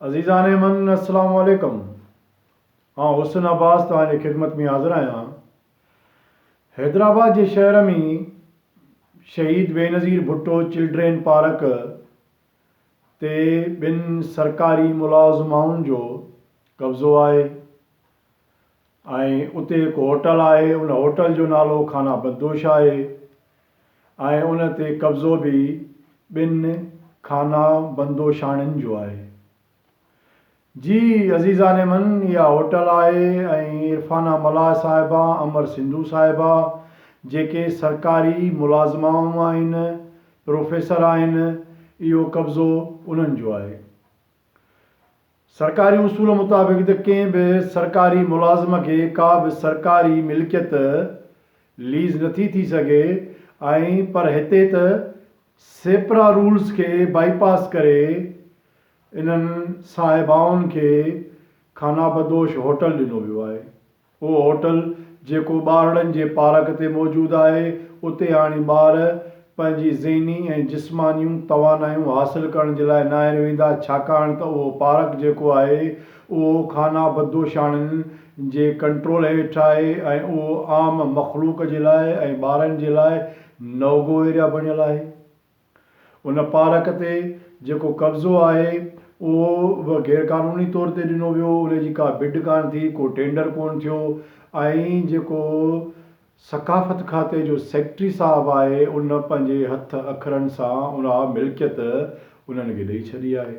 عزيزان من السلام عليڪم آئون حسن عباس توهان جي خدمت ۾ حاضر آهيان حيدرآباد جي شهر ۾ شهيد بينظير ڀٽو چلڊرين پارڪ تي ٻن سرڪاري ملازمائن جو قبضو آهي ۽ اتي هڪ هوٽل آهي ان هوٽل جو نالو خانه بدوش آهي ۽ ان تي قبضو به ٻن خانه بندوشاڻين جو آهي. جي عزيزان من اها هوٽل آهي ۽ عرفانه ملاح صاحبه امر سنڌو صاحبه جيڪي سرڪاري ملازمائون آهن پروفيسر آهن اهو قبضو انهن جو آهي. سرڪاري اصول مطابق ته ڪنهن به سرڪاري ملازم کي ڪا به سرڪاري ملڪيت ليز نٿي ٿي سگهي ۽ پر هتي ته سيپرا رولز کي بائي پاس ڪري انهن صاحبائن کي خانابدوش هوٽل ڏنو ويو آهي. اهو هوٽل جيڪو ٻارڙن جي پارڪ تي موجود آهي، اتي هاڻي ٻار پنهنجي ذهني ۽ جسمانيون توانايون حاصل ڪرڻ جي لاء ناهن ويندا، ڇاڪاڻ ته اهو پارڪ جيڪو آهي، اهو خانه بدوشاڻن جي ڪنٽرول هيٺ آهي ۽ اهو عام مخلوق جي لاء ۽ ٻارن جي لاء نوگو ايريا بڻيل آهي. ان پارڪ تي جيڪو قبضو آهي اهو به غيرقانوني طور تي ڏنو ويو، ان جي ڪا بڊ ڪانه ٿي، ڪو ٽينڊر ڪونه ٿيو ۽ جيڪو ثقافت کاتي جو سيڪريٽري صاحب آهي ان پنهنجي هٿ اکرن سان اها ملڪيت انهن کي ڏئي ڇڏي آهي.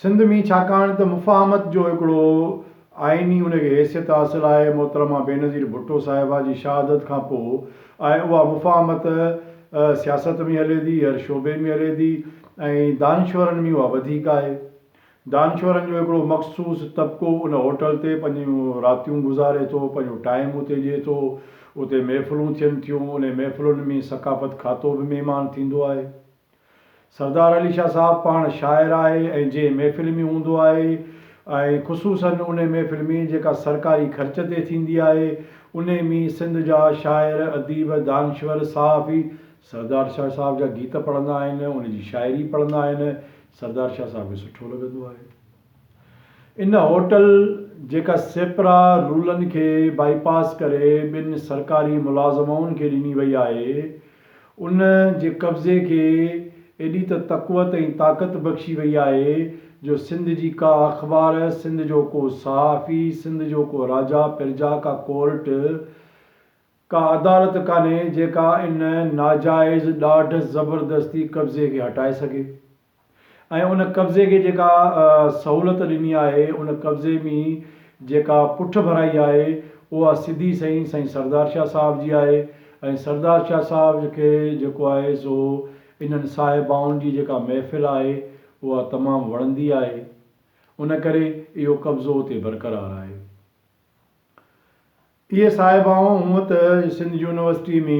سنڌ ۾ ڇاڪاڻ ته مفاهمت جو هڪڙو آئيني ان کي حيثيت حاصل آهي، محترمه بينظير ڀٽو صاحبه جي شهادت کان پوء ۽ اها مفاهمت سياست ۾ هلي ٿي، هر شعبي ۾ هلي ٿي ۽ دانشورن ۾ اها وڌيڪ آهي. دانشورن جو هڪڙو مخصوص طبقو ان هوٽل تي پنهنجون راتيون گذاري ٿو، پنهنجو ٽائيم اتي ڏئي ٿو، اتي محفلون ٿين ٿيون، انهي محفلن ۾ ثقافت کاتو به مهمان ٿيندو آهي. سردار علي شاهه صاحب پاڻ شاعر آهي ۽ جنهن محفل ۾ هوندو آهي ۽ خصوصاً انهي محفل ۾ جيڪا سرڪاري خرچ تي ٿيندي آهي انهي ۾ سنڌ جا شاعر، اديب، دانشور، صحافي سردار شاهه صاحب جا گيت پڙهندا آهن، ان جي شاعري پڙهندا آهن، سردار شاهه صاحب کي سٺو لڳندو آهي. ان هوٽل جيڪا سيپرا رولن کي بائي پاس ڪري ٻن سرڪاري ملازمائن کي ڏني وئي آهي ان جي قبضي کي ايڏي ته تقوت ۽ طاقت بخشي وئي آهي جو سنڌ جي ڪا اخبار سنڌ جو ڪو صحافي سنڌ جو ڪو راجا پرجا ڪا ڪورٽ ڪا عدالت ڪانهي جيڪا ان ناجائز ڏاڍ زبردستي قبضي کي هٽائي سگهي. ۽ ان قبضي کي جيڪا سهولت ڏني آهي ان قبضي مين جيڪا پٺ ڀرائي آهي اها سڌي سئي سائين سردار شاهه صاحب جي آهي ۽ سردار شاهه صاحب کي جيڪو آهي سو انهن صاحبائن جي جيڪا محفل آهي اها تمام وڻندي آهي ان ڪري اهو قبضو اتي برقرار آهي. اهي صاحبائون هونء ته سنڌ يونيورسٽيء ۾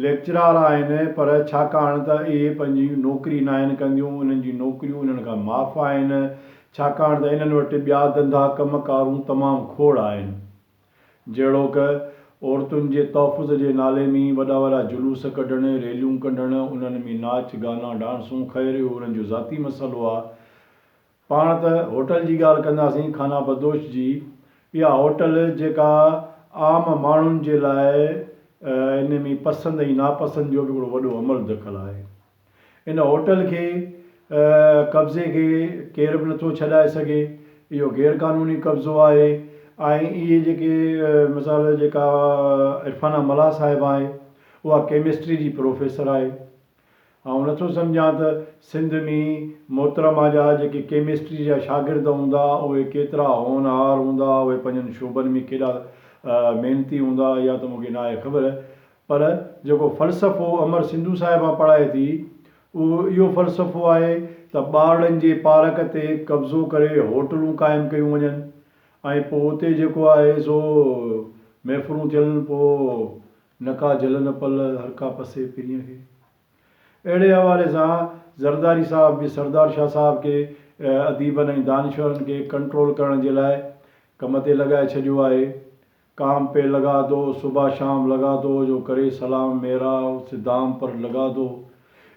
ليڪچرار آهن، پر ڇاڪاڻ ته اهي پنهنجي نوڪري ناهن ڪنديون، انهن جون نوڪريون انهن کان معاف آهن، ڇاڪاڻ ته انهن وٽ ٻيا ڌنڌا ڪم ڪارون تمام کوڙ آهن. جهڙوڪ، عورتن جي تحفظ جي نالي ۾ وڏا وڏا جلوس ڪڍڻ، ريليون ڪڍڻ، انهن ۾ ناچ، گانا، ڊانسون، خير اهو انهن جو ذاتي مسئلو آ، پاڻ ته هوٽل جي ڳالهه ڪنداسين خانه بدوش جي اها هوٽل جيڪا عام ماڻهن جي لاء ان ۾ پسند ۽ ناپسند جو به هڪڙو وڏو عمل دخل آهي ان هوٽل کي قبضي کي ڪير به نٿو ڇڏائي سگهي اهو غير قانوني قبضو آهي ۽ اهي جيڪي مثال جيڪا عرفانه ملاح صاحب آهي اها ڪيمسٽري جي پروفيسر آهي. آئون نٿو سمجهان ته سنڌ ۾ محترمه جا جيڪي ڪيمسٽري جا شاگرد هوندا اهي ڪيترا هونهار هوندا اهي پنهنجن شعبن ۾ ڪيڏا محنتي هوندا اها ته مون کي ناهي خبر پر جيڪو فلسفو امر سنڌو صاحبه پڙهائي ٿي اهو اهو فلسفو آهي ته ٻارڙن جي پارڪ تي قبضو ڪري هوٽلون قائم ڪيون وڃن ۽ پوء اتي جيڪو آهي سو محفلون ٿين پوء نه ڪا جل نه پل هر ڪا پسي پرينء کي. اهڙي حوالي سان زرداري صاحب به سردار شاهه صاحب کي اديبن ۽ دانشورن کي ڪنٽرول ڪرڻ جي لاء ڪم تي لڳائي ڇڏيو آهي، ڪام پي لگا دو، صبح شام لگا دو، جو ڪري سلام ميرا، اس دام پر لگا دو.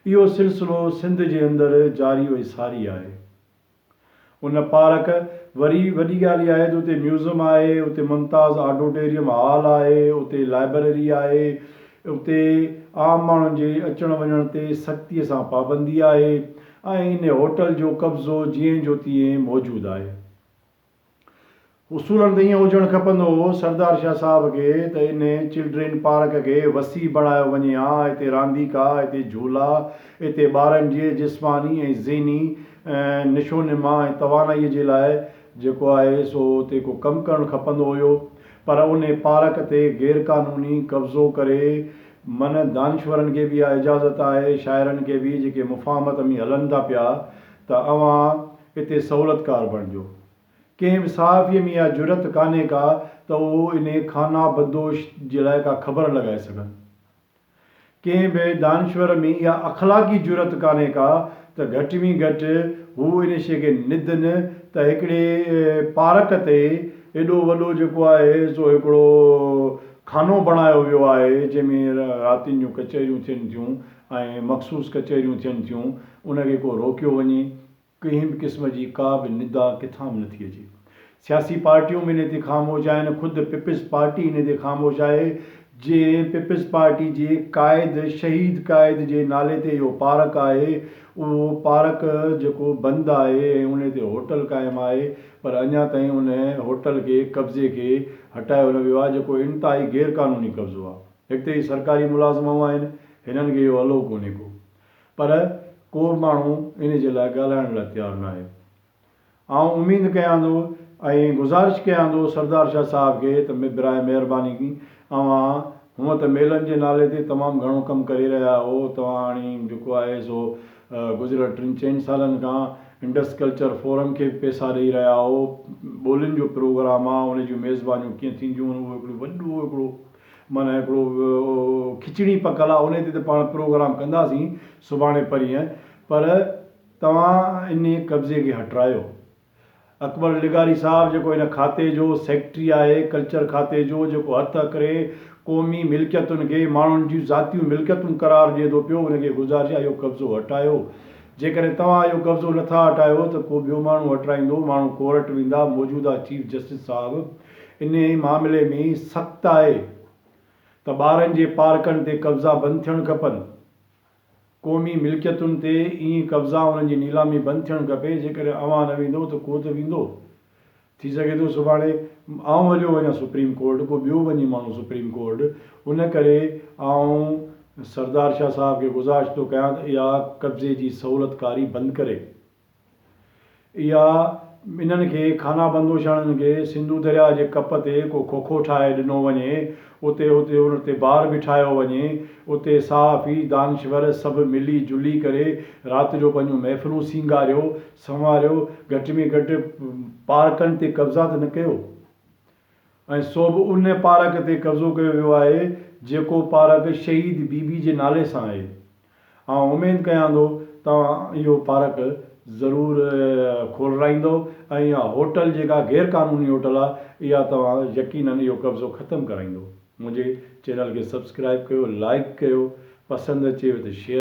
اهو سلسلو سنڌ جي اندر جاري و ساري آهي. ان پارڪ وري وڏي ڳالهه اها آهي ته اتي ميوزم آهي، اتي ممتاز آڊوٽيريم هال آهي، اتي لائبرري آهي، اتي عام ماڻهن جي اچڻ وڃڻ تي سختي سان پابندي آهي ۽ ان هوٽل جو قبضو جيئن جو تيئن موجود آهي. اصولن ته ائين هجڻ کپندو هو سردار شاهه صاحب کي ته ان چلڊرين پارڪ کي وسيع بڻايو وڃي ها اتي رانديڪا اتي جهولا اتي ٻارن جي جسماني ۽ ذهني نشونما ۽ توانائي جي لاء جيڪو آهي سو اتي ڪو ڪم ڪرڻ کپندو هيو پر ان پارڪ تي غير قانوني قبضو ڪري من دانشورن کي به اها اجازت آهي شاعرن کي به جيڪي مفاهمت ۾ هلن ٿا پيا ته اوهان اتي سهولتڪار بڻجو. ڪنهن به صحافيء ۾ اها جرئت ڪانهي ڪا ته هو انهيء خانه بدوش جي لاء ڪا خبر لڳائي سگهن. ڪنهن به دانشور ۾ اها اخلاقي جرئت ڪانهي ڪا ته گهٽ ۾ گهٽ هو ان شيء کي ند نه ته هڪڙي پارڪ تي ايڏو وڏو جيڪو آهي سو هڪڙو خانو بڻايو ويو آهي جنهن ۾ راتين جون ڪچهريون ٿين ٿيون ۽ مخصوص ڪچهريون ٿين ٿيون ان کي ڪو روڪيو وڃي. ڪنهن به قسم جي ڪا به ندا ڪٿان به نٿي اچي. سياسي پارٽيون به ان تي خاموش آهن، خود پيپلز پارٽي ان تي خاموش آهي، جنهن پيپلز پارٽي جي قائد شهيد قائد جي نالي تي اهو پارڪ آهي، اهو پارڪ جيڪو بند آهي ۽ ان تي هوٽل قائم آهي پر اڃا تائين ان هوٽل کي قبضي کي هٽايو نه ويو آهي جيڪو انتهائي غيرقانوني قبضو آهي. هڪ ته هي سرڪاري ملازم آهن، هنن کي اهو الو ڪونهي ڪو. پر ڪو به ماڻهو ان جي لاء ڳالهائڻ لاء تيار ناهي. آئون اميد ڪيان ٿو ۽ گذارش ڪيان ٿو سردار شاهه صاحب کي ته براهه مهرباني اوهان هونء ته ميلن جي نالي تي تمام گهڻو ڪم ڪري رهيا آهو، توهان جيڪو آهي سو گذريل ٽن چئن سالن کان انڊس ڪلچر فورم کي به پئسا ڏئي رهيا آهو، ٻولين جو پروگرام آهي ان جون ميزبانيون ڪيئن ٿينديون اهو هڪڙو وڏو هڪڙو معنيٰ هڪڙو کچڙي پڪل آ انهي تي ته پاڻ پروگرام ڪنداسين سڀاڻي پرينهن پر توهان انهي قبضي کي هٽرايو. اڪبر لغاري صاحب جيڪو ان کاتي جو سيڪريٽري آهي ڪلچر کاتي جو جيڪو هٿ اڪري قومي ملڪيتن کي ماڻهن جون ذاتيون ملڪيتون قرار ڏئي ٿو پيو ان کي گذارش آهي اهو قبضو هٽايو جيڪڏهن توهان اهو قبضو نٿا هٽايو ته ڪو ٻيو ماڻهو هٽرائيندو ماڻهو ڪورٽ ويندا موجوده چيف جسٽس صاحب انهيء معاملي ۾ سخت آهي ته ٻارن جي پارڪن تي قبضا بند ٿيڻ کپن. قومي ملڪيتن تي ائين قبضا انهن جي نيلامي بند ٿيڻ کپي. جيڪڏهن اوهان نه ويندو ته ڪو ته ويندو. ٿي سگهي ٿو سڀاڻي آئون هليو وڃان سپريم ڪورٽ ڪو ٻيو وڃي ماڻهو سپريم ڪورٽ ان ڪري آئون سردار شاهه صاحب کي گذارش ٿو ڪيان ته اها قبضي جي سهولتڪاري بند ڪري. اها انهن کي خانابندوشاڻن کي سنڌو درياء جي ڪپ تي ڪو کوکو ٺاهي ڏنو وڃي، اتي اتي ان تي بار بٺايو وڃي، اتي صحافي، دانشور سڀ ملي جلي ڪري رات جو پنهنجون محفلون سينگاريو، سنواريو، گهٽ ۾ گهٽ پارڪن تي قبضا ته نه ڪيو. ۽ سو به ان پارڪ تي قبضو ڪيو ويو آهي جيڪو پارڪ شهيد بي بي جي نالي سان آهي. آئون اميد ڪيان ٿو توهان اهو پارڪ ضرور کولرائيندؤ ۽ اها هوٽل جيڪا غير قانوني هوٽل آهي اها توهان يقينن اهو قبضو ختم ڪرائيندؤ. منهنجي چينل کي سبسڪرائيب ڪيو، لائيڪ ڪيو، پسند اچيو ته شيئر.